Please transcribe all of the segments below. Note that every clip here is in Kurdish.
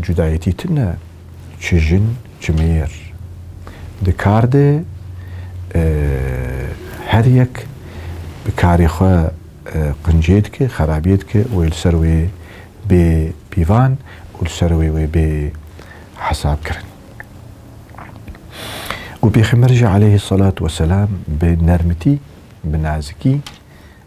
Cudayetî tune çi jin çi mêr. Di kar de her yek bi karê xwe qincê dike, xerabiyê dike wê li ser wê bê pîvan û li ser wê wê bê hesabkirin. Û Pêxember jî aleyhî selat weselam bi nermitî, bi nazikî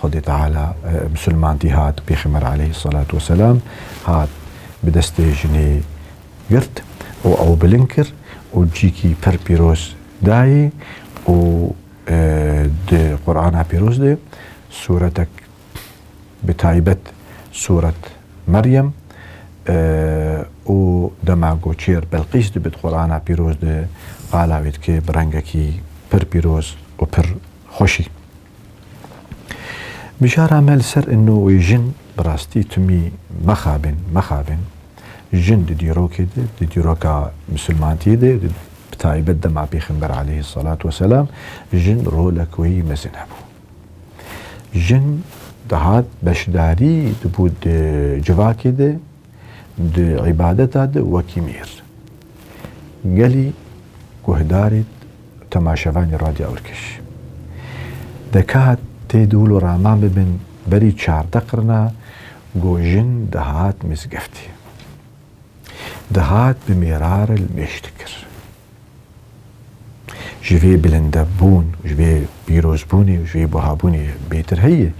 Xwedê Teala misilmantî hat, Pêxember aleyhîssalatu weselam hat bi destê jinê girt û ew bilind kir û cîkî pir pîroz dayê û di Qur'ana pîroz de sûretek bi taybet sûret Meryem û dema ku çêr Belqîs dibe di Qur'ana pîroz de qala wê dike bi rengekî pir pîroz û pir xweşî. Mijara me li ser inno wê jin bi rastî timî mexabin, mexabin. Jin di dîrokê de, di dîroka misilmantiyê de, bi taybet dema Pêxember aleyhî selat weselam, jin rolek wê mezin hebû. Jin dihat beşdarî dibû di civakê de, Di îbadeta de wekî mêr gelî guhdarê temaşevanê Radya Urkiş de ka tê dûl û raman bibin berî çarde qirina ku jin dihat mizgeftê. Dihat bi mêrare li mêş dikir. Ji vê bilindebûn, ji vê pîrozbûnê û ji vê buhabûnê bêtir heye.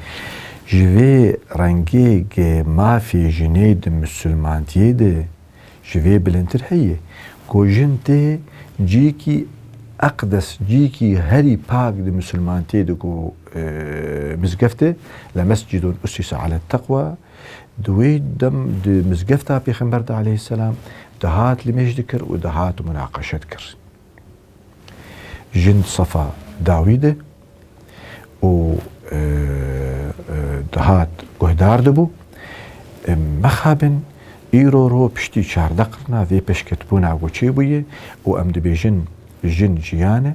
Ji vê rengêgê mafê jinê di misilmantiyê de ji vê bilindtir heye ku jin tê cîyekî eqdes, cîyekî herî pak di misilmantiyê de ku mizgeft e, Lemescîdûn ussise ale teqwa, Di wê dem di mizgefta Pêxember de aleyhisselam dihat limêj dikir û dihat munaqeşe dikir. Jin sefa dawî de û e, e, dihat guhdar dibû. E, mexabin îro ro piştî çarde qirna vê peşketbûna goçê bûye û em dibêjin jin jiyan e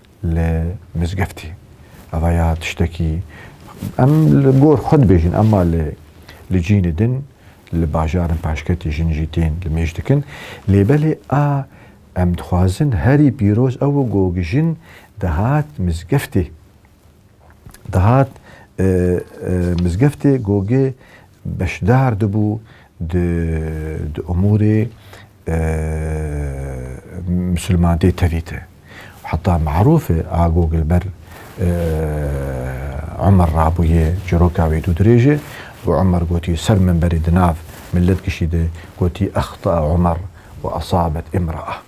li mizgeftê. Eva ya tiştekî em li gor xwe dibêjin ema li li cînê din li bajarin paşketî jin jî tên li mêj dikin. Lê belê a em dixwazin herî pîroz ew ku jin dihat mizgeftê. dihat mizgeftê Gogê beşdar dibû di di umûrê misilmantê tevî de. Heta marûf e a Gog li ber Umer rabûye çîroka wê dû dirêj e û Umer gotî ser mimberê di nav milet gişî de gotî Ehtaa Umer we esabet imraa.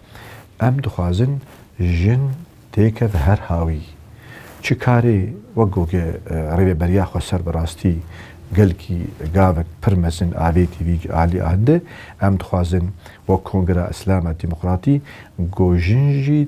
Em dixwazin jin têkeve her hawî. Çi karê wek goge rêveberiya xweser bi rastî gelkî gavek pir mezin avêtî vî alî ande. Em dixwazin wek Kongira Îslama Demokratî ku jin jî